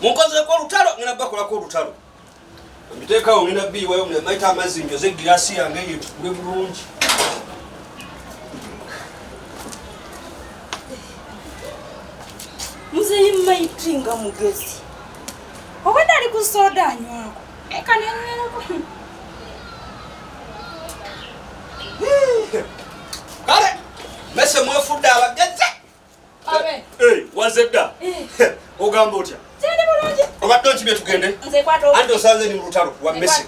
munkozeko olutalo ngenda bakolako olutalo mbiteekawo ngenda biiwayo maita amazzi njoze egirasi yange yetukule bulungi muzeyi maiti nga mugezi obadde ali ku soda anywako ekanengerako kale mese mwefudde abagezi wazedda ogamba otya obadde okibye tugende anti osanze ni mulutalo wa mese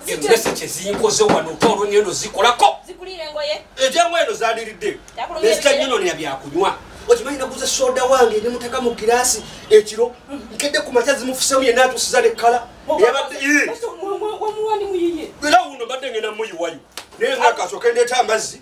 embese kyezinkoze wano otoolo nyono zikolako ejangu eno zaliridde ezita nyononera byakunywa okimanyi naguze soda wange ne mutaka mu girasi ekiro nkedde ku makya zimufusemu yena atusiza ne kkala eyabadde era wuno mbadde ngenda muyiwayo naye ngakasoke ndeeta amazzi